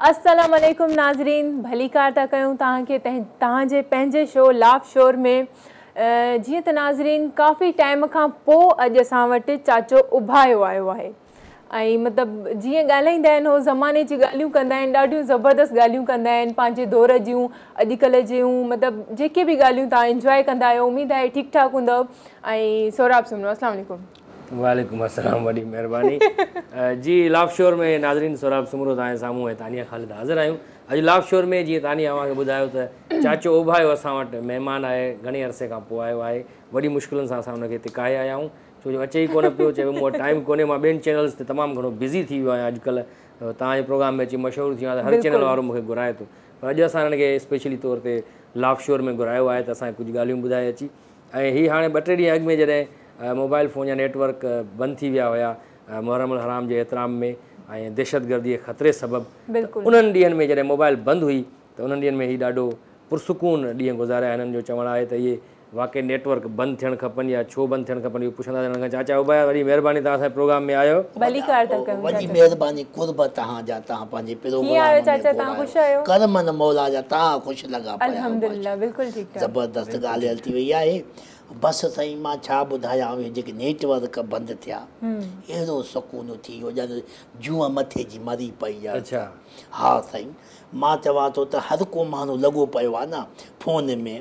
السلام عليڪم ناظرين ڀليڪار ٿا ڪيون توهان کي توهان جي پنهنجي شو لاف شور ۾ جيئن ته ناظرين ڪافي ٽائيم کان پوء اڄ اسان وٽ چاچو اڀايو آيو آهي ۽ مطلب جيئن ڳالهائيندا آهن هو زماني جي ڳالهيون ڪندا آهن ڏاڍيون زبردست ڳالهيون ڪندا آهن پنهنجي دور جون اڄڪلهه جون مطلب جيڪي به ڳالهيون تان انجوائي ڪندا آهيو اميد آهي ٺيڪ ٺاڪ هوندو ۽ سوراب سمنو السلام عليڪم وعليڪم السلام وڏي مهرباني جي لاف شور ۾ ناظرين سوراب سمرو تانجي سامهون ۽ تانيا خالد حاضر آهيون اڄ لاف شور ۾ جيئن تانيا اوهان کي ٻڌايو ته چاچو اوڀايو اسان وٽ مهمان آهي گهڻي عرصي کان پوء آيو آهي وڏي مشڪلن سان اسان ان کي هتي ڪاهي آيا آهيون ڇو جو اچي ئي ڪونه پيو، چئي پيو مون وٽ ٽائيم ڪونهي مان ٻين چينلز تي تمام گهڻو بزي ٿي ويو آهيان اڄڪلهه توهان جي پروگرام ۾ اچي مشهور ٿي ويو آهيان ته هر چينل وارو مون کي گهرائي ٿو پر اڄ اسان هنن کي اسپيشلي طور تي لاف شور ۾ گهرايو آهي ته اسان کي ڪجهه ڳالهيون ٻڌائي اچي ۽ هي هاڻي ٻه ٽي ڏينهن اڳ ۾ جڏهن موبائل فون جا نيٽ ورڪ بند ٿي ويا هيا محرم الحرام جي احترام ۾ ۽ دهشت گردي جي خطري سبب انهن ڏينهن ۾ جڏهن موبائل بند هئي ته انهن ڏينهن ۾ هي ڏاڍو پرسڪون ڏينهن گذاريا هنن جو چوڻ آهي ته اهي واقعي نيٽ ورڪ بند ٿيڻ کپن يا ڇو بند ٿيڻ کپن اهو پڇندا سيڻ کان چاچا ابايا وڏي مهرباني توهان اسان پروگرام ۾ آيو. ڀليڪار ٿا ڪيون وڏي چاچا. مهرباني قرب توهان جا توهان پنهنجي ڪيئن آهيو پروگرام ۾ چاچا توهان خوش گهرايو آهيو ڪرمن مولا جا توهان خوش لڳا پيا آهيو الحمد لله ماشاءالله بلڪل ٺيڪ ٺاڪ. زبردست بلڪل ڳالهه ٺيڪ ٿي وئي آهي بس سائين مان ڇا ٻڌايان اهي جيڪي نيٽ ورڪ بند ٿيا اهڙو سڪون ٿي ويو ڄڻ جونء مٿي جي مري پئي ڄڻ اڇا. ته ها سائين مان چوان ٿو ته هر ڪو ماڻهو لڳو پيو آهي نه فون ۾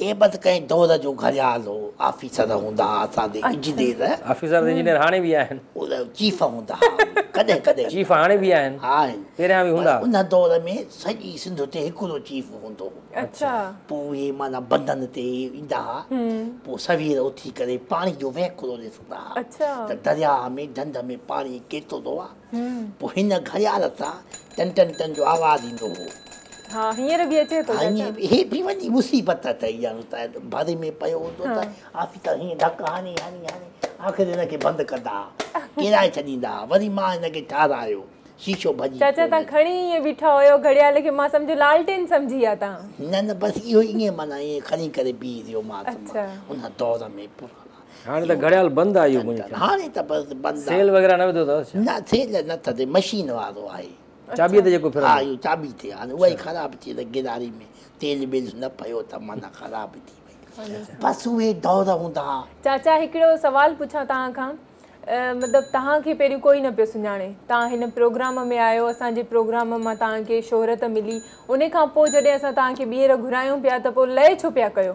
هي بس ڪنهن دور جو گهڙيال هو. آفيسر هوندا ها اسان جي انجنيئر. آفيسر ته انجنيئر هاڻي به آهن. چيف هوندا ها ڪڏهن ڪڏهن. چيف هاڻي به آهن. آهن. پهريان به هوندا. ان دور ۾ سڄي سنڌ تي هڪڙو چيف هوندو هو. اچا. پوء اهي معنيٰ بندن تي ايندا ها. پوء سوير اٿي ڪري پاڻي جو وهڪرو ڏسندا ها. اچا. ته درياهه ۾ ڍنڍ ۾ پاڻي ڪيترو آهي. پوء هن گهڙيال سان ٽن ٽن ٽن جو آواز ايندو هو. ها هينئر به اچي ٿو چاچا. هيء هيء به وڏي مصيبت اٿئي ڄڻ ته ڀري ۾ پيو هوندو ته آفيسر هيئن ڌڪ هڻي هڻي هڻي آخر هن کي بند ڪندا ها. ڪيرائي ڇڏيندا ها. وري مان هن کي ٺارايو. شيشو ڀڄي پيو وڃي. چاچا توهان کڻي ائين بيٺا هيو گهڙيال کي مان سمجهيو لالٽين سمجهي ها توهان. نه نه بس اهو ئي ائين معنيٰ ائين کڻي ڪري بيهي رهيومانس مان ان دور ۾ پراڻا. هاڻي ته گهڙيال بند آهي اهو منهنجي خيال ۾. هاڻي ته بس بند آهي. سيل وغيره نه وڌو اٿس ڇا؟ نه سيل نه ٿڌي مشين وارو آهي. چاٻيء تي جيڪو ڦرندو. ها اهو چاٻي تي هاڻي اها ئي خراب ٿي وئي گراري ۾ تيل ويل نه پيو ته معنيٰ خراب ٿي وئي بس اهي دور هوندا ها. چاچا هڪڙو سوال پڇان توهان کان مطلب توهان کي پهريون ڪوئي نه پيو سڃاڻي توهان هن پروگرام ۾ آيو اسان جي پروگرام مان توهان کي شهرت ملي انهي کان پوء جڏهن اسان توهان کي ٻيهر گهرايون پيا ته پوء لئه ڇو پيا ڪيو؟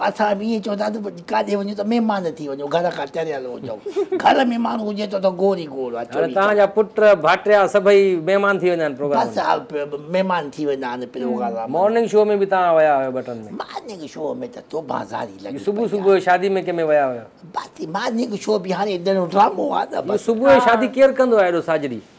اسان به ائين چون ٿا ته ڪاڏي وڃون ته مهمان ٿي وڃون گهر کان چريل هجون گهر ۾ ماڻهو هجي ٿو ته گور ئي گور آ چوري توهان جا پٽ ڀاٽيا سڀئي مهمان ٿي وڃان پروگرام بس آ مهمان ٿي وڃا آن پروگرام مارننگ شو ۾ به توهان ويا هيو ٻه ٽن ۾ مارننگ شو ۾ ته توبه زاري لڳي پئي صبح صبح شادي ۾ ڪنهن ۾ ويا هيو بس مارننگ شو به هاڻي ڏنو ڊرامو آ نه بس صبح شادي ڪير ڪندو آ ايڏو ساجري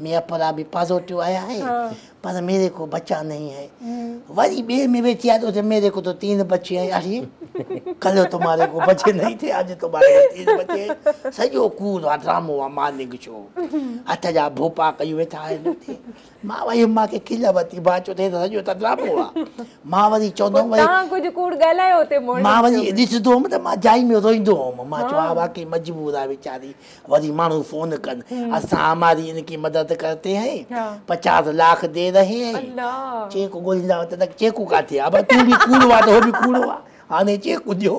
ميان پورا به پازوٽيو آيا هي پر ميري ڪو بچا نهين هي وري ٻي ۾ ويٺي آهي ته ميري ڪو تو تين بچي هي اڙي ڪلهه تمهاري ڪو بچي نهين ٿي آج تمهاري ڪو تين بچي هي سڄو ڪوڙ آ ڊرامو آ مارننگ شو هٿ جا ڀوپا ڪيون ويٺا آهن اتي مان وئي هيم مانکي کل ورتي مان چيو ته سڄو ته ڊرامو آ مان وري چوندم وري تان ڪجهه ڪوڙ ڳالهايو اتي مون مان وري ڏسندو هيم ته مان جائي ۾ روئندو هيم مان چيو ها واقعي مجبور آ ويچاري وري ماڻهو فون ڪن اسان هماري ان ڪي مدد ڪرتي هي پچاس لاک دي رهي هي چيڪ ڳولهيندا هئا ته چيڪون ڪاٿي آ بس تون به ڪوڙو آ ته هو به ڪوڙو آ هاڻي چيڪون ڏيو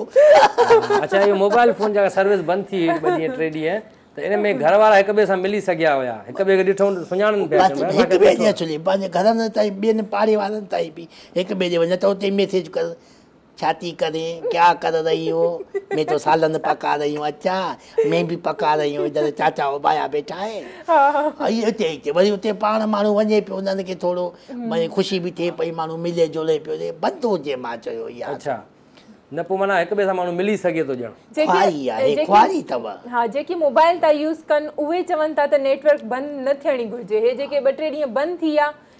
اچا اهو موبائل فون جا سروس بند ٿي هئي ٻه ڏينهن ٽي ڏينهن ته ان ۾ گهر وارا هڪ ٻئي سان ملي سگهيا هيا هڪ ٻئي کي ڏٺو ته سڃاڻن پيا بس هڪ ٻئي جي اچلي پنهنجي گهرن تائين ٻين پاڙي وارن تائين به هڪ ٻئي ڏي وڃ ته اتي ميسيج ڪر ڇا ٿي ڪرين ڪيا ڪر رهي هو مين تو سالن پڪا رهي هون اچا مين به پڪا رهي هون ادھر چاچا اوبايا بيٺا هي اي اتي اتي وري اتي پاڻ ماڻهو وڃي پيو انهن کي ٿورو وري خوشي به ٿئي پئي ماڻهو ملي جلي پيو رهي بند هجي مان چيو يار اچا نه پو معنيٰ هڪ ٻئي سان ماڻهو ملي سگهي ٿو ڄڻ خواري آهي خواري اٿو ها جيڪي موبائل ٿا يوز ڪن اهي چون ٿا ته نيٽ ورڪ بند نه ٿيڻي گهرجي هي جيڪي ٻه ٽي ڏينهن بند ٿي ويا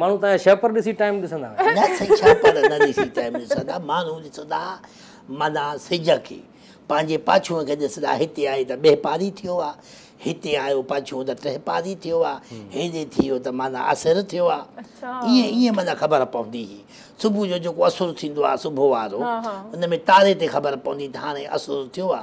ماڻهو تنهن جا شهپر ڏسي ٽائيم ڏسندا آهن. نه سائين شهپر نه ڏسي ٽائيم ڏسندا ماڻهو ڏسندا معنيٰ سج کي پنهنجي پاڇونء کي ڏسندا هتي آهي ته ٻه پاري ٿيو آ هتي آيو پاڇونء ته ٽه پاري ٿيو آ هيڏي ٿي ويو ته معنيٰ اسر ٿيو آ ائين ائين معنيٰ خبر پوندي هي صبح جو جيڪو اسر ٿيندو آ صبح وارو ان ۾ تاري تي خبر پوندي ته هاڻي اسر ٿيو آ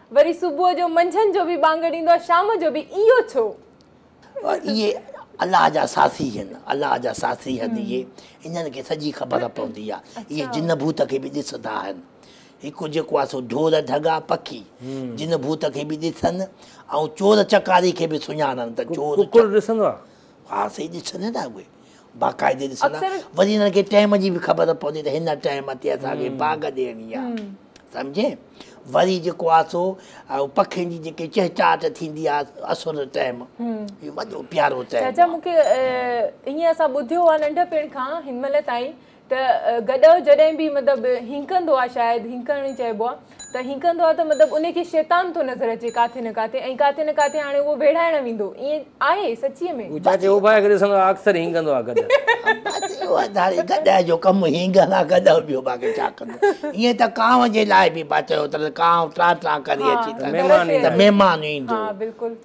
وري صبح جو منجهند جو به ٻانگهه ڏيندو آهي شام جو به اهو ڇو؟ اهي الله جا ساٿي هن الله جا ساٿي هن اهي انهن کي سڄي خبر پوندي آهي اهي جن ڀوت کي به ڏسندا آهن هڪ جيڪو آهي سو ڍور ڍڳا پکي جن ڀوت کي به ڏسن ۽ چور چڪاري کي به سڃاڻن ته چور ڪڪڙ ڏسندو آهي ها سائين ڏسندا نه اهي باقاعدي ڏسندا وري هنن کي ٽيم جي به خبر پوندي ته هن ٽيم تي اسان کي باغ ڏيڻي آ سمجهي وري جيڪو آ سو پکين جي جيڪي چهچاٽ ٿيندي آ اسر ٽيم اهو وڏو پيارو ٽيم چاچا مونکي ائين اسان ٻڌيو آ ننڍپڻ کان هن مهل تائين ته گڏهه جڏهن به مطلب هينڪندو آ شايد هينڪڻ ئي چئبو آ ته هينڪندو آ ته مطلب انهي کي شيطان ٿو نظر اچي ڪاٿي نه ڪاٿي ۽ ڪاٿي نه ڪاٿي هاڻي اهو ويڙهائڻ ويندو ائين آهي سچيء ۾؟ هو چاچي اوڀائي کي ڏسندو آ اڪثر هينڪندو آ گڏهه. بس اهو آ ڌاڙي گڏهه جو ڪم هينڪڻ آ گڏهه ٻيو باقي ڇا ڪندو ائين ته ڪانء جي لاء به با چيو اٿن ته ڪانء ٽران ٽران ڪري اچي ته مهمان ايندو.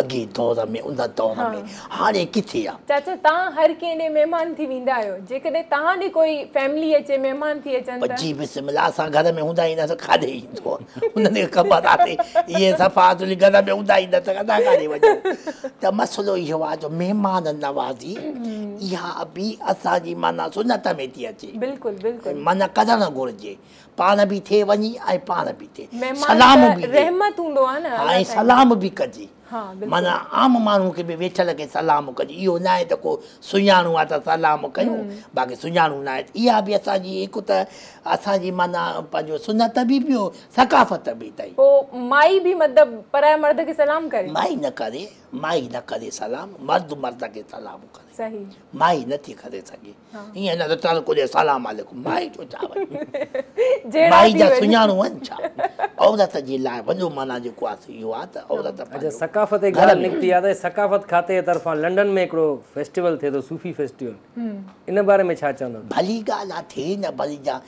اڳئين دور ۾ ان دور ۾ هاڻي ڪٿي آ. چاچا تان هر ڪنهن ڏي مهمان ٿي ويندا آهيو جيڪڏهن تان ڏي ڪوئي فيملي اچي مهمان ٿي اچن ته. جي بسم الله اسان گهر ۾ هوندا ئي نه ته ڪاڏي ايندو انهن کي خبر آ تي اهي صفا تنهنجي گهر ۾ هوندا ئي نه ته اسان ڪاڏي وڃون ته مسئلو اهو آ جو مهمان نوازي اها ابي اسان جي معنيٰ سنت ۾ ٿي اچي بلڪل بلڪل ۽ معنيٰ ڪرڻ گهرجي پاڻ به ٿي وڃي ۽ پاڻ به ٿي سلام به ڏي ۽ سلام به ڪجي معنيٰ عام ماڻهو کي به ويٺل کي سلام ڪجي اهو ناهي ته ڪو سڃاڻو آهي ته سلام ڪيون باقي سڃاڻو ناهي اها به اسان جي هڪ ته اسان جي معنيٰ پنهنجو سنت به ٻيو ثقافت به اٿئي پوء مائي به مطلب پرائي مرد کي سلام ڪري مائي نه ڪري مائي نه ڪري سلام مرد مرد کي سلام ڪري مائي نٿي ڪري سگهي ايئن نه ته ٽرڪ هجي سلام عليڪم مائي جو ڇا وڃي مائي جا سڃاڻو آهن ڇا عورت جي لاء وڏو معنيٰ جيڪو آهي سو اهو آهي ته عورت پنهنجو ثقافت جي ڳالهه نڪتي آهي ته ثقافت کاتي جي طرفان لنڊن ۾ هڪڙو فيسٽيول ٿئي ٿو صوفي فيسٽيول ان باري ۾ ڇا چوندو ڀلي ڳالهه آهي ٿئي نه ڀلي جا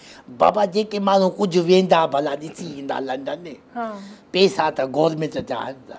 بابا جيڪي ماڻهو ڪجهه ويندا ڀلا ڏسي ايندا لنڊن ۾ پئسا ته گورمينٽ جا آهن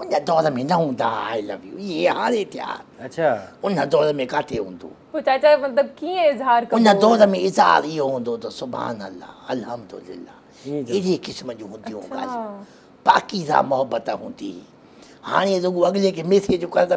ان دور ۾ نه هوندا آء لو يو اهي هاڻي ٿيا اڇا ان دور ۾ ڪاٿي هوندو پوء چاچا مطلب ڪيئن اظهار ڪبو ان دور ۾ اظهار اهو هوندو ته سبحان الله الحمدلله اهڙي قسم جون هونديون ڳالهيون پاڪيزه محبت هوندي هاڻي رڳو اڳلي کي ميسيج ڪرڻ ته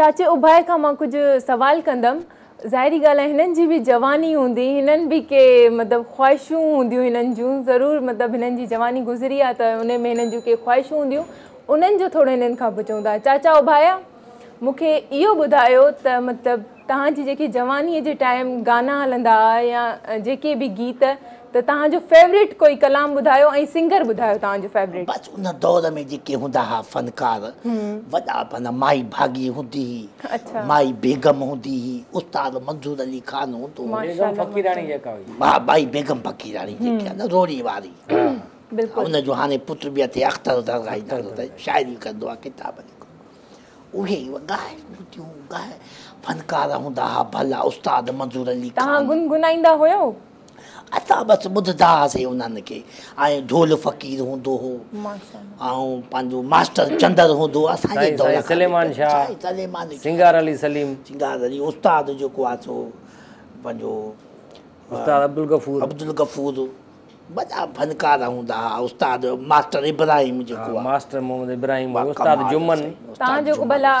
چاچي اباهي کان مان ڪجهه سوال ڪندم. ظاهري ڳالهه آهي هنن جي به جواني هوندي هنن به ڪي مطلب خواهشون هونديون هنن جون ضرور مطلب هنن جي جواني گذري آهي ته ان ۾ هنن جون ڪي خواهشون هونديون انهن جو ٿورو هنن کان پڇون ٿا چاچا اباهيا مون کي اهو ٻڌايو ته مطلب توهان جي جيڪي جوانيء جي ٽائيم گانا هلندا ها يا جيڪي به گيت ته توهان جو فيوريٽ ڪوئي ڪلام ٻڌايو ۽ سنگر ٻڌايو توهان جو فيوريٽ. بس ان دور ۾ جيڪي هوندا ها فنڪار وڏا معنيٰ مائي ڀاڳي هوندي هئي مائي بيگم هوندي هئي استاد منظور علي خان هوندو هو بيگم فقيراڻي جيڪا هئي. ها مائي بيگم فقيراڻي جيڪي آهي نه روهڙي واري ان جو هاڻي پٽ به اٿئي اختر درگاهي نالو اٿس شاعري ڪندو آهي ڪتاب لکندو آهي. اهي وڳا آهن ٻوٽيون ڳاهه. فنڪار هوندا ها ڀلا استاد منظور علي خان. توهان گنگنائيندا هيو؟ اسان بس ٻڌدا هئاسين انهن کي. ۽ ڍول فقير هوندو هو. ۽ پنهنجو ماسٽر چندر هوندو هو اسان جي دور کان. سائين سليمان شاهه، سنگار علي سليم. سنگار علي استاد جيڪو آهي سو پنهنجو. استاد عبدالغفور. عبدالغفور. وڏا فنڪار هوندا ها استاد ماسٽر ابراهيم جيڪو آهي. ها ماسٽر محمد ابراهيم هو استاد جمن. تان جو ڀلا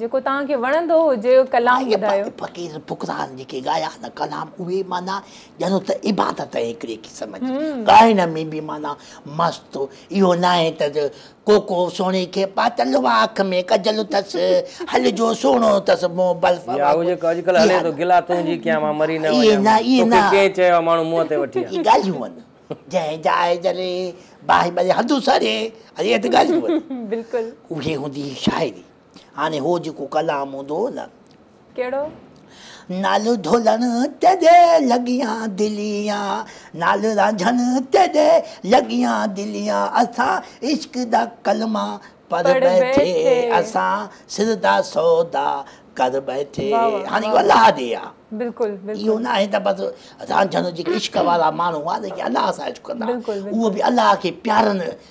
جيڪو تان کي وڻندو هجي ڪلام ٻڌايو. اهي فقير فقران جيڪي ڳايا نه ڪلام اهي معنيٰ ڄڻ ته عبادت آهي هڪڙي قسم جي ڳائڻ ۾ به معنيٰ مست اهو ناهي ته ڪوڪو سهڻي کي پاتل اها اک ۾ ڪجل اٿس هل جو سهڻو اٿس منهن بلف وانگر اهو جيڪو اڄڪلهه هلي ٿو گلا تون جي ڪيان مان مري نه وڃان مان توکي ڪنهن چيو آهي ماڻهو منهن تي وٺي آ. ڳالهيون آهن جنهن جاء جري باهه ٻري هنڌ اسري اهي ته ڳالهيون آهن اهي هوندي هئي شاعري. هاڻي هو جيڪو ڪلام هوندو هو نه. ڪهڙو؟ نال ڍولڻ تيڏي لڳيان دليان نال رانجهڻ تيڏي لڳيان دليان اسان عشق دا ڪلما پڙهه ٻيٺي اسان سر دا سودا ڪر ٻيٺي هاڻي اهو الله ڏي آ اهو نه آهي ته بس رانجهڻ جيڪي عشق وارا ماڻهو هئا جيڪي الله سان عشق ڪندا هئا اهو به الله کي پيارن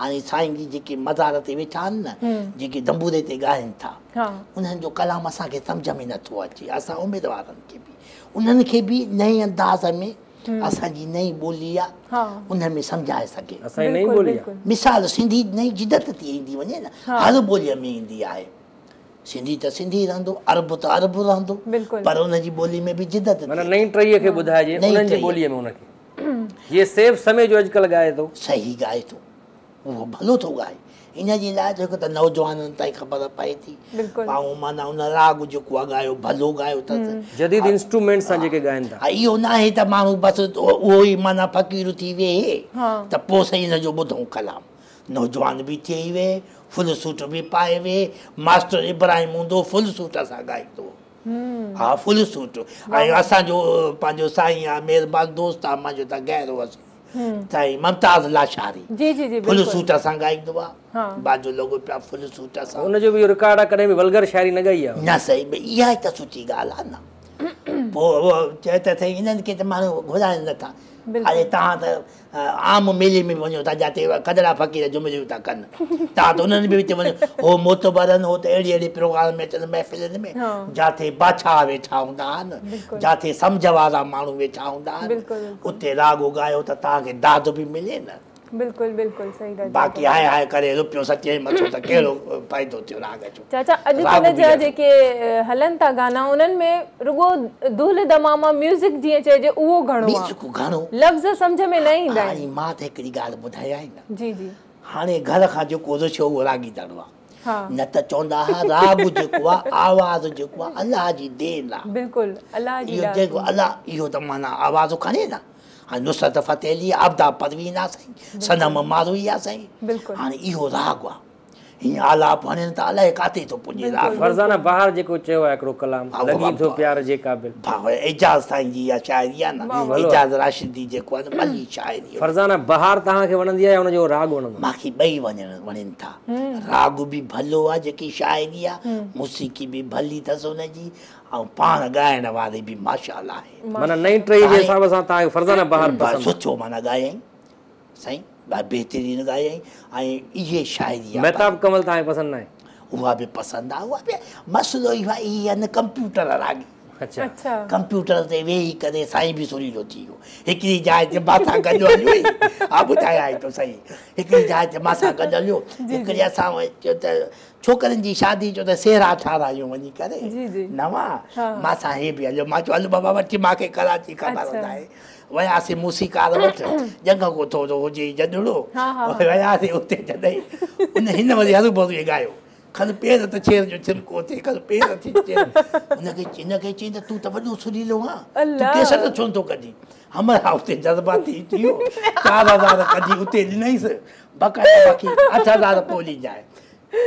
هاڻي سائين جي جيڪي مزار تي ويٺا آهن نه جيڪي دنبوري تي ڳائين ٿا انهن جو ڪلام اسان کي سمجهه ۾ نٿو اچي اسان اميد وارن کي به انهن کي به نئين انداز ۾ اسان جي نئين ٻولي آهي انهن ۾ سمجهائي سگهي مثال سنڌي نئين جدت ٿي ايندي وڃي نه هر ٻولي ۾ ايندي آهي سنڌي ته سنڌي رهندو عرب ته عرب رهندو پر ان جي ٻولي ۾ به جدت ٿي نئين ٽهي کي ٻڌائجي انهن جي ٻولي ۾ ان کي هيء سيف سمي جو اڄڪلهه ڳائي ٿو. صحيح ڳائي ٿو. اهو ڀلو ٿو ڳائي. ان جي لاء ته هڪ ته نوجوانن تائين خبر پئي ٿي. ٻاهون معنيٰ ان راڳ جيڪو آهي ڳايو ڀلو ڳايو اٿس. جديد انسٽرومينٽس سان جيڪي ڳائن ٿا. اهو ناهي ته ماڻهو بس اهو ئي معنيٰ فقير ٿي ويهي ته پوء سائين ان جو ٻڌون ڪلام. نوجوان به ٿئي ويهي، فل سوٽ به پائي ويهي. ماسٽر ابراهيم هوندو هو فل سوٽ سان ڳائيندو هو. ها فل سوٽ ۽ اسان جو پنهنجو سائين آ مهربان دوست آ منهنجو ته غير هو سائين سائين ممتاز لاشاري فل سوٽ سان ڳائيندو آ بازو لڳو پيو آ فل سوٽ سان هن جو به اهو رڪارڊ آ ڪڏهن به ولگر شاعري نه ڳائي آ نه سائين اها ئي ته سٺي ڳالهه آ نه پوء چئه ته سائين هنن کي ته ماڻهو گهرائين نٿا اڙي توهان ته عام ميلي ۾ به وڃو ٿا جاتي ڪڌڙا فقير جمليون ٿا ڪن تان ته انهن به وچ وڃو هو معتبرن هو ته اهڙي اهڙي پروگرام ۾ اچن محفلن ۾ جاتي بادشاهه ويٺا هوندا آهن جاتي سمجهه وارا ماڻهو ويٺا هوندا آهن اتي راڳ ڳايو ته توهان کي داد به ملي نه باقي هاء هاء ڪري روپيو سچي مٿو ته ڪهڙو فائدو ٿيو راڳ جو چاچا اڄ ڪلهه جا جيڪي هلن ٿا گانا انهن ۾ رڳو دهل دماما ميوزڪ جيئن چئجي اهو گهڻو آهي لفظ سمجهه ۾ نه ايندا آهن. هاڻي مان ته هڪڙي ڳالهه ٻڌايانء نه جي جي. هاڻي گهر کان جيڪو رش هو اهو راڳي دڙو آهي نه ته چوندا ها راڳ جيڪو آهي آواز جيڪو آهي الله جي دين آهي بلڪل الله جي ڏات جيڪو الله اهو ته معنيٰ آواز کڻي نه هاڻي نصرت فتح علي آبدار پروين آهي سائين صنم ماروئي آهي سائين هاڻي اهو راڳ آهي هي آلاپ هڻين ته الائي ڪاٿي ٿو پڄي را. فرزانه بهار جيڪو چيو آ هڪڙو ڪلام لڳين ٿو پيار جي قابل. ڀاء اعجاز سائين جي اها شاعري آ نه اعجاز راشدي جيڪو آ نه ڀلي شاعري. فرزانه بهار توهان کي وڻندي آ يا ان جو راڳ وڻندو آ. مان کي ٻئي وڻين ٿا راڳ به ڀلو آ جيڪي شاعري آ موسيقي به ڀلي ٿس ان جي ۽ پاڻ ڳائڻ واري به ماشاء الله آهي. معنيٰ نئين ٽهي جي حساب سان توهان کي فرزانه بهار پسند آ. سٺو معنيٰ ڳايائين. سائين ڏاڍي بهترين ڳايائين ۽ اهي شاعري مهتاب ڪمل توهان کي پسند ناهي اها به پسند آهي اها به مسئلو اهو آهي هي آهن ڪمپيوٽر راڳي اچا ڪمپيوٽر تي ويهي ڪري سائين به سريلو ٿي ويو هڪڙي جاء تي ما سان گڏ هليو ها ٻڌايائين تو سائين هڪڙي جاء تي ما سان گڏ هليو هڪڙي اسان چيو ته ڇوڪرين جي شادي چيو ته سيرا ٺارايون وڃي ڪري نوان ما سان هي به هليو ما چيو هل بابا وٺي ما کي ڪراچي خبر ٻڌائي وياسين موسيقار وٽ جنگ ڪوٺو جو هجي جڏڙو وياسين اتي جڏهن ان هن وري هرو ڀرو ئي ڳايو کن پير ته ڇير جو ڇلڪو ٿي کن پير ٿي ڇير ان کي ان کي چين ته تون ته وڏو سريلو آهين تون ڪيسٽ ڇو نٿو ڪڍين همر ها اتي جذباتي ٿي ويو چار هزار ڪڍي اتي ڏنائيس بقايا باقي اٺ هزار پوء ڏيجانء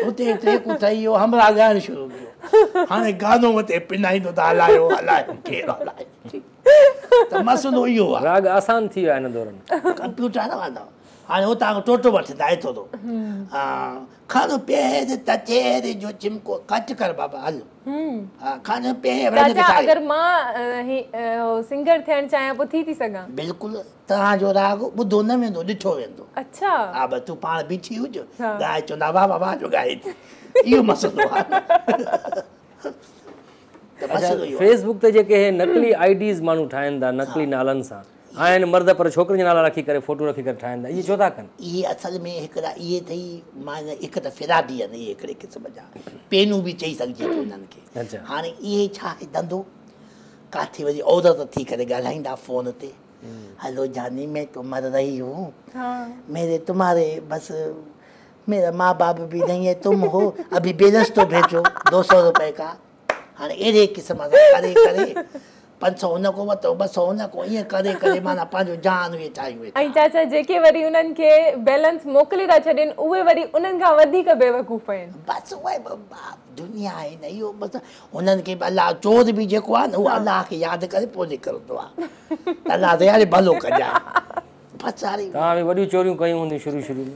اتي ٽيڪ اٿائي ويو همر ها ڳائڻ شروع ڪيو هاڻي گانو مٿي پنائيندو ته هلايو هلايو ڪير هلائي ته مسئلو اهو آهي. راڳ آسان ٿي ويا هن دورن. ڪمپيوٽر نه وهندو. هاڻي هو تان ٽوٽو وٺ دائي ٿو تو. کڻ پير تتير جو چمڪو ڪٽ ڪر بابا هل. کڻ پير. چاچا اگر مان سنگر ٿيڻ چاهيان پوء ٿي ٿي سگهان. بلڪل توهان جو راڳ ٻڌو نه ويندو ڏٺو ويندو. اڇا. ها بس تون پاڻ بيٺي هج ڳائي چوندا واهه واهه واهه جو ڳائي ٿي اهو مسئلو آهي. فيس بڪ تي جيڪي هي نقلي آئي ڊيز ماڻهو ٺاهين ٿا نقلي نالن سان آهن مرد پر ڇوڪرين جا نالا رکي ڪري فوٽو رکي ڪري ٺاهين ٿا اهي ڇو ٿا ڪن اهي اصل ۾ هڪڙا اهي اٿئي مان هڪ ته فرادي آهن اهي هڪڙي قسم جا پينون به چئي سگهجي ٿو انهن کي هاڻي اهي ڇا آهي دندو ڪاٿي وڃي عورت ٿي ڪري ڳالهائيندا فون تي هلو جاني مين تو مر رهي هون ميري تمهاري بس ميرا ماء باپ ڀي نهين هي تم هو ابهي بي رستو ڀيجو دو سو روپئي ڪا هاڻي اهڙي قسم سان ڪري ڪري پنج سو هن کان ورتو ٻه سو هن کان ائين ڪري ڪري معنيٰ پنهنجو جهان اهي ٺاهيون ويٺا ۽ چاچا جيڪي وري انهن کي بيلنس موڪلي ٿا ڇڏين اهي وري انهن کان وڌيڪ بيوقوف آهن. بس اهي دنيا آهي نه اهو بس انهن کي به الله چور به جيڪو آهي نه اهو الله کي ياد ڪري پوء نڪرندو آهي الله دياري ڀلو ڪجانء بس هاڻي توهان به وڏيون چوريون ڪيون هونديون شروع شروع ۾.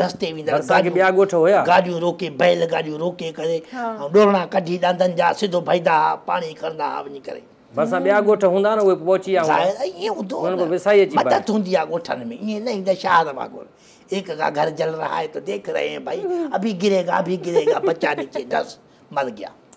رستي ويندڙ گاڏيون روڪي بيل گاڏيون روڪي ڪري ۽ ڏورڻا ڪڍي ڏاندن جا سڌو ڀئيدا ها پاڻي کرندا ها وڃي ڪري. ڀرسان ٻيا ڳوٺ هوندا ها نه اهي به پهچي ويا هوندا. ظاهر آهي ائين هوندو هو نه مدد هوندي آهي ڳوٺن ۾ ائين نه هيندا شهر وانگر ايڪ ڪا گهر جل رها هي تو ديک رهي هين ڀائي ابهي گري گا ابهي گري گا بچا نيچي ڊس مر گيا.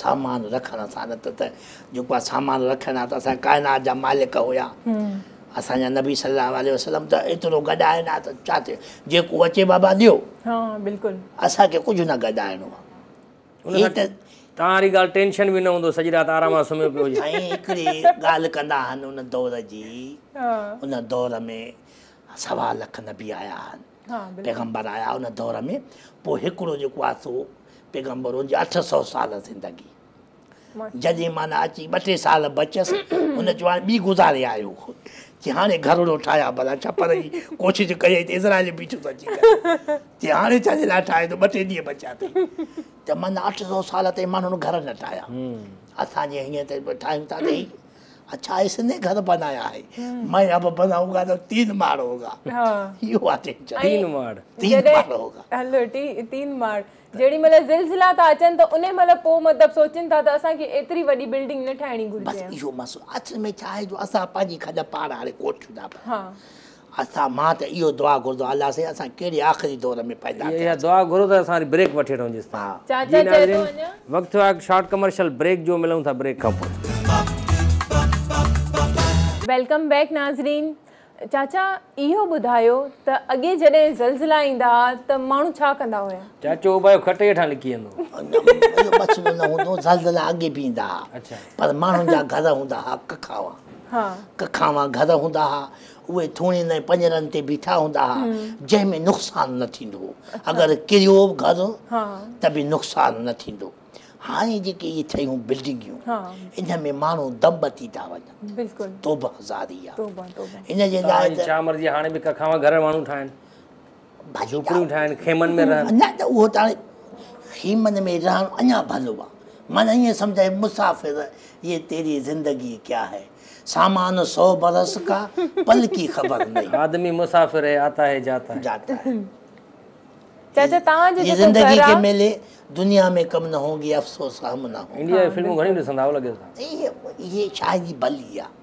سامان رکڻ سان نه ته جيڪو سامان رکڻ آ ته اسان ڪائنات جا مالڪ هيا اسان جا نبي صلي الله عليه وسلم ته ايترو گڏائين آ ته ڇا ٿيو جيڪو اچي بابا ڏيو ها بلڪل اسان کي ڪجهه نه گڏائڻو آ هي ته تان واري ڳالهه ٽينشن به نه هوندو سڄي رات آرام سان سمهيو پيو هجي سائين هڪڙي ڳالهه ڪندا آهن ان دور جي ان دور ۾ سوا لک نبي آيا آهن پيغمبر آيا ان دور ۾ پوء هڪڙو جيڪو آهي سو پيغمبر ان جي اٺ سؤ سال زندگي جڏهن معنيٰ اچي ٻه ٽي سال بچيس ان چيو هاڻي ٻي گذاري آيو چي هاڻي گهرڙو ٺاهيا ڀلا ڇا پر هي ڪوشش ڪئي ته اسرائيل بيٺو ٿو اچي چي هاڻي ڇا جي لاء ٺاهي ٿو ٻه ٽي ڏينهن بچيا اٿئي ته معنيٰ اٺ سؤ سال تائين ماڻهن گهر نه ٺاهيا اسان جي هيئن ته ٺاهيون ٿا ته اڇا اس ني گھر بنايا ھي مين اب بناون گا تو تين ماڙ ھوگا اھو آ ٽينشن تين ماڙ تين ماڙ ھوگا ھلو تين ماڙ جيڏي مھل زلزلا ٿا اچن ته انھي مھل پوء مطلب سوچين ٿا ته اسان کي ايتري وڏي بلڊنگ نه ٺاھڻي گھرجي بس اھو مسئلو اصل ۾ ڇا آھي جو اسان پنھنجي کڏ پاڙ ھاري ڪوٺيون ٿا پيون اسان مان ته اهو دعا گهرندو الله سائين اسان ڪهڙي آخري دور ۾ پيدا ٿياسين. اها دعا گهرو ته اسان وري بريڪ وٺي وٺون جيس تائين. جي ناظرين وقت ٿيو آهي هڪ شارٽ ڪمرشل بريڪ جو ملون ٿا بريڪ کان پوء. ويلڪم بيڪ ناظرين چاچا اهو ٻڌايو ته اڳي جڏهن زلزلا ايندا ها ته ماڻهو ڇا ڪندا هيا. چاچو اوٻايو کٽ هيٺان لڪي ويندو هو. اهو مسئلو نه هوندو هو زلزلا اڳي به ايندا ها پر ماڻهن جا گهر هوندا ها ڪکاوا ڪکاوا گهر هوندا ها اهي ٿوڻين ۽ پڃرن تي بيٺا هوندا ها، جنهن ۾ نقصان نه ٿيندو هو. اگر ڪريو به گهر ته به نقصان نه ٿيندو. هاڻي جيڪي اهي ٺهيون بلڊنگيون، انهن ۾ ماڻهو دم وتي ٿا وڃن. توبهه هزاري آهي. ان جي لاء ته. چانور جي هاڻي به ڪکاوا گهر ماڻهو ٺاهن. جهوپڙيون ٺاهن خيمن ۾ رهن نه ته اهو ته هاڻي خيمن ۾ رهڻ اڃا ڀلو آهي معنيٰ ائين سمجهه اي مسافر يي تيري زندگي ڪيا هي سامان سو برس ڪا پل ڪي خبر نهين آدمي مسافر هي آتا هي جاتا جاتا هي چاچا توهان جو جيڪو زندگي کي ميلي دنيا ۾ ڪم نه هونگي افسوس هم نه هونگي انڊيا جي فلمون گهڻيون ڏسندا آهيو لڳي ٿو اهي شايد ئي ڀلي آهي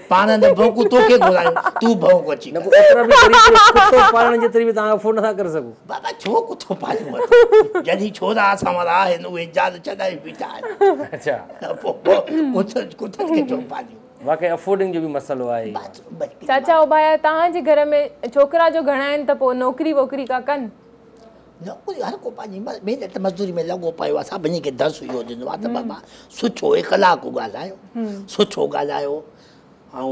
پاڻ نه ڀونڪون توکي گهرايون تون ڀونڪ اچي ڪر. ڪتو پالڻ جيتري به توهان افورڊ نٿا ڪري سگهون. بابا ڇو ڪتو پاليون اٿو جڏهين ڇورا اسان وارا آهن اهي جان ڇڏائي بيٺا آهن ته پوء ڪتن کي ڇو پاليون. واقعي افورڊنگ جو به مسئلو آهي. چاچا اوڀايا توهان جي گهر ۾ ڇوڪرا جو گهڻا آهن ته پوء نوڪري ووڪري ڪا ڪن. نوڪري هر ڪو پنهنجي محنت مزدوري ۾ لڳو پيو آهي سڀني کي درس اهو ڏنو آهي ته بابا سٺو اخلاق ڳالهايو سٺو ڳالهايو ۽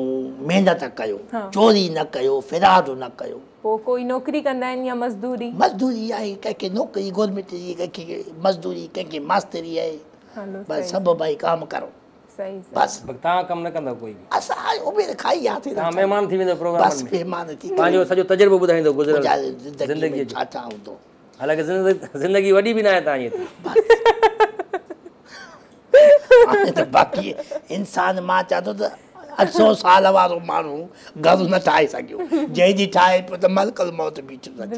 محنت ڪيو چوري نه ڪيو فراڊ نه ڪيو پوء ڪوئي نوڪري ڪندا آهن يا مزدوري مزدوري آهي ڪنهن کي نوڪري گورنمينٽ جي ڪنهن کي مزدوري ڪنهن کي ماستري آهي بس سڀ ڀائي ڪام ڪرو صحيح صحيح بس تان ڪم نه ڪندو ڪوئي به اسان آء اميد کائي يا ٿي تان مهمان ٿي ويندو پروگرام بس مهمان ٿي پنهنجو سڄو تجربو ٻڌائيندو گذريل زندگي جو ڇا ڇا هوندو حالانڪه زندگي وڏي به نه آهي تان جيتري بس باقي انسان مان چاهتو ته اٺ سو سال وارو ماڻهو گهر نه ٺاهي سگهيو جنهن جي ٺاهي پيو ته ملڪ الموت بيٺ ٿي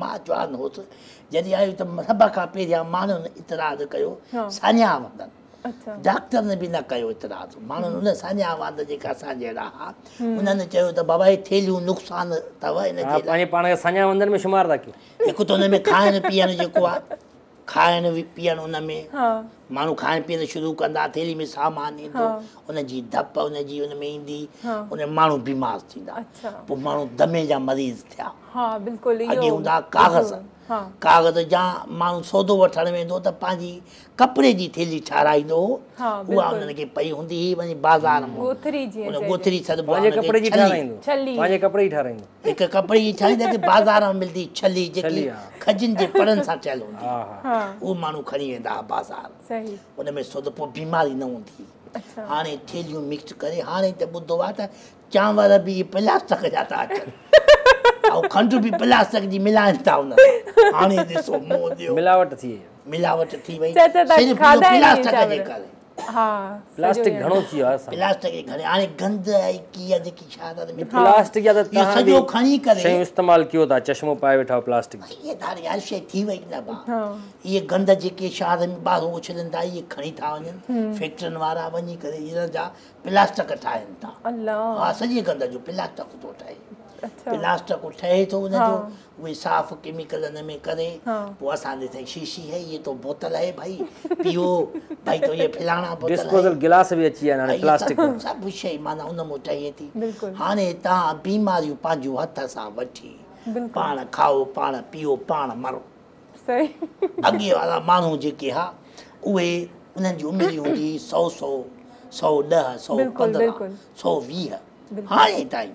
مان جوان هوس، جڏهن آيو ته سڀ کان پهريان ماڻهن اعتراض ڪيو ساڃاهه واندن، ڊاڪٽرن به نه ڪيو اعتراض، ماڻهن ان ساڃاهه واند جيڪي اسان جهڙا ها، انهن چيو ته بابا هي ٿيلهيون نقصان اٿو، ان جي لاء. پنهنجي پاڻ کي ساڃاهه واندن ۾ شمار ٿا ڪيون. هڪ ته ان ۾ کائڻ پيئڻ جيڪو آهي. کائڻ پيئڻ ان ۾ ماڻهو کائڻ پيئڻ شروع ڪندا ٿيلهي ۾ سامان ايندو ان جي ڌپ ان جي ان ۾ ايندي ان ماڻهو بيمار ٿيندا پوء ماڻهو دمي جا مريض ٿيا اڳي هوندا ڪاغذ ڪاغذ جا ماڻهو سودو وٺڻ ويندو ته پنهنجي ڪپڙي جي ٿيلهي ٺاراهيندو هو اها انهن کي پئي هوندي هئي وڃي بازار ۾ ڳوٿري جي ٺاراهيندو هڪ ڪپڙي جي ڇاني جيڪي بازار ۾ ملندي هئي ڇلي جيڪي کجين جي پڙن سان ٺهيل هوندي هئي اهو ماڻهو کڻي ويندا هئا بازار ان ۾ سوڌو پوء بيماري نه هوندي هئي هاڻي ٿيلهيون مڪس ڪري هاڻي ته ٻڌو آهي ته چانور به پلاسٽڪ جا ٿا اچن ۽ کنڊ به پلاسٽڪ جي ملائن ٿا ان سان هاڻي ڏسو مون ڏيو ملاوٽ ٿي وئي ملاوٽ ٿي وئي صرف پلاسٽڪ جي ڪري پلاسٽڪ گهڻو ٿي ويو آهي پلاسٽڪ جي گهڻي هاڻي گند آهي ڪي آهي جيڪي ڇا ٿا ڏسو پلاسٽڪ جا ته تهان سڄو کڻي ڪري شيون استعمال ڪيو ٿا چشمو پائي ويٺا آهيو پلاسٽڪ جو هي ڌار يار شي ٿي وئي نه با هي گند جيڪي شهر ۾ ٻاهرون اڇلن ٿا هي کڻي ٿا وڃن فيڪٽرين وارا وڃي ڪري هيرن جا پلاسٽڪ ٺاهين ٿا الله ها سڄي گند جو پلاسٽڪ ٿو ٺهي پلاسٽڪ ٺهي ٿو ان جو اهي صاف ڪيميڪل ان ۾ ڪري پوء اسان ڏي سائين شيشي هي اهي تو بوتل هي ڀائي پيئو ڀائي تو اهي فلاڻا بوتل ڊسپوزل گلاس به اچي ويا آهن هاڻي پلاسٽڪ جا سڀ شيء معنيٰ ان مون ٺهي ٿي هاڻي تان بيماريون پنهنجون هٿ سان وٺي پاڻ کائو پاڻ پيئو پاڻ مرو اڳي وارا ماڻهو جيڪي ها اهي انهن جي عمر هوندي هئي سؤ سؤ سؤ ڏهه سؤ پندرهن سؤ ويهه هاڻي تائين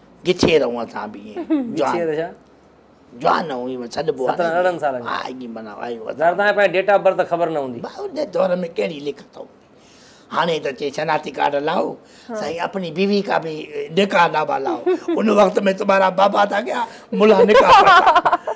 گچيء رئون سان به ائين جوان گچيء رئون جوان نه هئي مون سڏبو آهي سترهن ارڙهن سالن جو آهي جي معنيٰ آهي وڌا ظاهر تنهنجي پنهنجي ڊيٽ آف برٿ خبر نه هوندي ڀائي ان دور ۾ ڪهڙي لکت هوندي هاڻي ته چي شناختي ڪارڊ لاؤ سائين اپني بيوي ڪا به نڪاح نامه لاؤ ان وقت ۾ تمهارا بابا ٿا ڪيا ملها نڪاح پڙهتا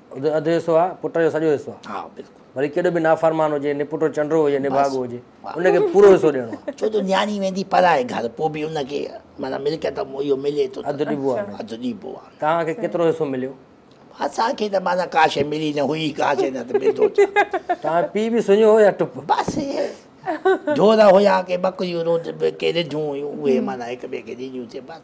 اڌ اڌ حصو آ پٽ جو سڄو حصو آ وري ڪيڏو به نافرمان هجي نپٽو چنڊو هجي نڀاڳو هجي ان کي پورو حصو ڏيڻو آ ڇو جو نياڻي ويندي پرائي گهر پوء به ان کي معنيٰ ملڪيت اهو ملي ٿو اڌ ڏبو آ اڌ ڏبو آ توهان کي ڪيترو حصو مليو اسان کي ته معنيٰ ڪا شيء ملي نه هئي ڪا شيء نه ته ملندو ڇا توهان پيء به سڃو هو يا ٽپ بس ڍور هيا ڪي ٻڪريون رود ڪي رڍون هيون اهي معنيٰ هڪ ٻئي کي ڏينديون سي بس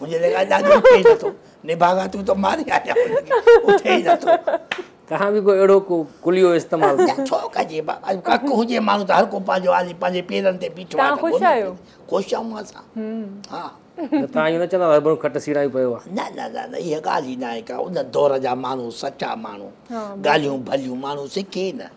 منهنجي لڳاء ڏاڏي اٿي ئي نٿو نڀاڳا تون ته ماري آيا اٿي ئي نٿو توهان به ڪو اهڙو ڪو ڪليو استعمال ڪيو نه ڇو ڪجي بابا ڪڪ هجي ماڻهو ته هر ڪو پنهنجو آلي پنهنجي پيرن تي بيٺو آهي خوش آهيو خوش آهيون اسان ها توهان اهو نه چوندو هربنو کٽ سيڙائي پيو آهي نه نه نه نه اها ڳالهه ئي نه آهي ڪا ان دور جا ماڻهو سچا ماڻهو ڳالهيون ڀليون ماڻهو سکي نه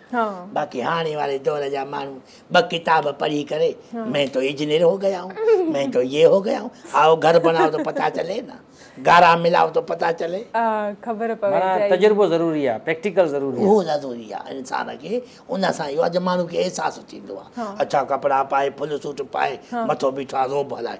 باقي هاڻي واري دور جا ماڻهو ٻه ڪتاب پڙهي ڪري مين تو اجنير هو گيا هون مين تو يي هو گيا هون آئو گهر بنائو تو پتا چلي نه گارا ملاو تو پتا چلي خبر پوي معنيٰ تجربو ضروري آهي پريڪٽيڪل ضروري اهو ضروري آهي انسان کي ان سان اهو آهي جو ماڻهو کي احساس ٿيندو آهي اڇا ڪپڙا پائي فل سوٽ پائي مٿو بيٺو آهي روب هلائي